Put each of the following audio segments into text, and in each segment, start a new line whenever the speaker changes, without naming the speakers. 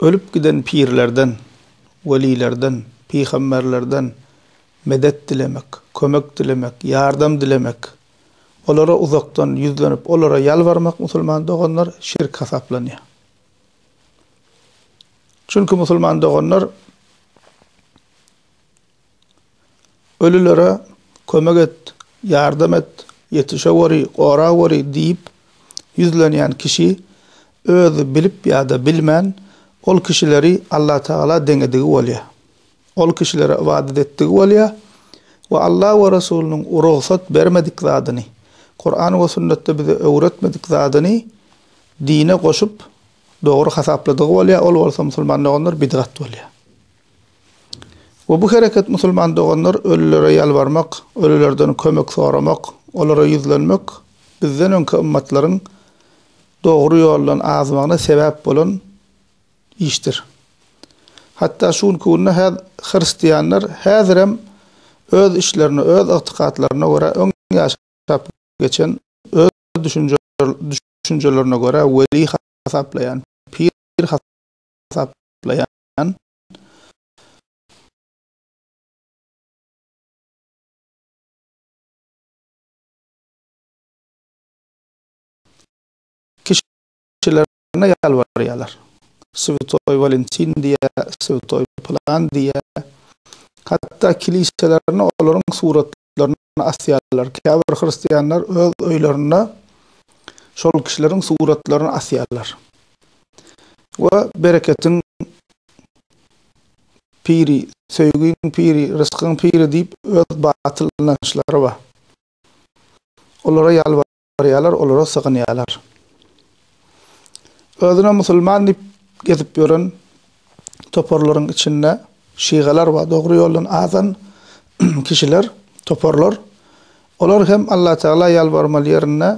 Ölüp giden pirlerden, welilerden, pygamberlerden medet dilemek, kömek dilemek, ýardam dilemek, olara uzakdan ýüzlenip, olara ýalbarmak musulman doganlar şirk hasaplanýar. Çünki musulman doganlar Ölülere kömek et, ýardam et, ýetişe gory, gora gory diýip ýüzlenýän kişi özi bilip ýa-da bilmän ol kişileri Allatagala deňedigi bolýar. Ol kişilere ybadat etdigi bolýar we Alla we Resulynyň rugsat bermedik zadyny, Kuran we sünnetde bize öwretmedik zadyny dine goşup, dogry hasapladygy bolýar, ol bolsa musulman doganlar bidgat bolýar. We bu hereket musulman doganlar ölülere ýalbarmak, ölülerden kömek soramak, olara ýüzlenmek bizden öňki ymmatlaryň dogry ýoldan azmagyna sebäp bolan işdir. Hatda şu günki günde häz hristianlar häzirem öz işlerine, öz ygtykatlaryna görä öň ýaşap geçen, öz düşünjelerine görä weli hasaplaýan, pir hasaplaýan, ýaşaýan, kişilerine ýalbarýarlar. Swetoý Walentin diýýä, Swetoý pylan diýýä. Hatda kiliselerine olaryň suratlaryny suratlaryny asýarlar. Käbir hristianlar öz öýlerinde şol kişileriň suratlaryny asýarlar. We bereketiň piri, söýgiň piri, ryskyň piri diýip öz batyl ynançlary bar. Olara ýalbar barýarlar, olara sygynýarlar. Özüne musulman diýip gezip ýören toparlaryň içinde şygalar bar, dogry ýoldan azan kişiler, toparlar. Olar hem Allatagala ýalbarmaly ýerinde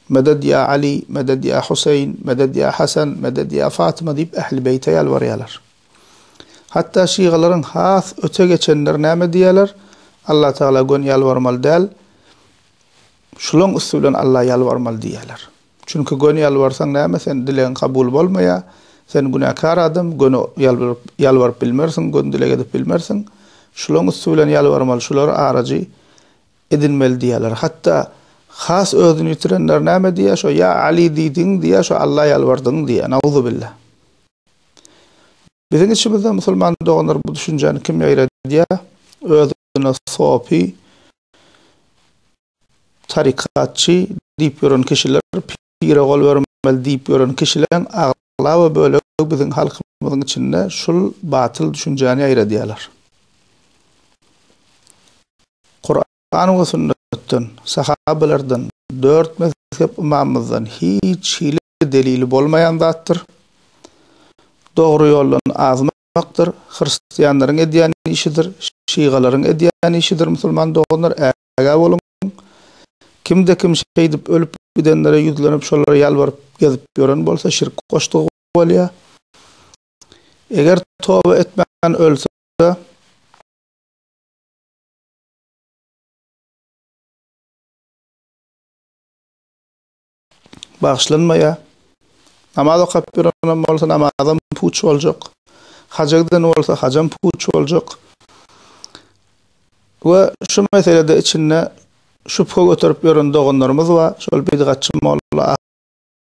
Meded ýa Aly, Meded ýa Huseýin, Meded ýa Hasan, Meded ýa Fatyma diýip Ähli Beýte ýalbarýarlar. Hatda şygalaryň has öte geçenleri näme diýýärler? Allatagala gön ýalbarmaly däl, Şulaň üsti bilen Alla ýalbarmaly diýýärler. Çünki göni ýalbarsaň näme sen dilegiň kabul bolmaýar, sen günäkär adam, göni ýalbaryp ýalbaryp bilmersiň, göni dileg edip bilmersiň. Şulaň üsti bilen ýalbarmaly, şulary arajy edinmeli diýýärler. Hatda has özüni ýitirenler näme diýýär, şo ýa Aly diýdiň diýýär, şo Alla ýalbardyň diýýär. Nauzubillah. Biziň içimizde musulman doganlar bu düşünjäni kim ýaýradýar? Özüne sopy, Tarykatçy diýip ýören kişiler, pire gol bermeli diýip ýören kişileriň aglaba bölegi biziň halkymyzyň içinde şul batyl düşünjäni ýaýradýarlar. Kuran we sünnetden, sahabelerden, dört mezhep ymamymyzdan hiç hili delili bolmaýan zatdyr. Dogry ýoldan azmy ýaýratmakdyr, hristianlaryň edýän işidir, şygalaryň edýän işidir musulman doganlar ägä boluň, kimde kim şeýdip ölüp gidenlere ýüzlenip şolara ýalbaryp gezip ýören bolsa şirk goşdugy bolýa, eger toba etmän ölse, bagyşlanmaýar. Namaz okap ýörenem bolsa namazam puç boljak. Haja giden bolsa hajam puç boljak. We şu meselede içinde şübhe göterip ýören doganlarymyz bar, şol bidgatçy molla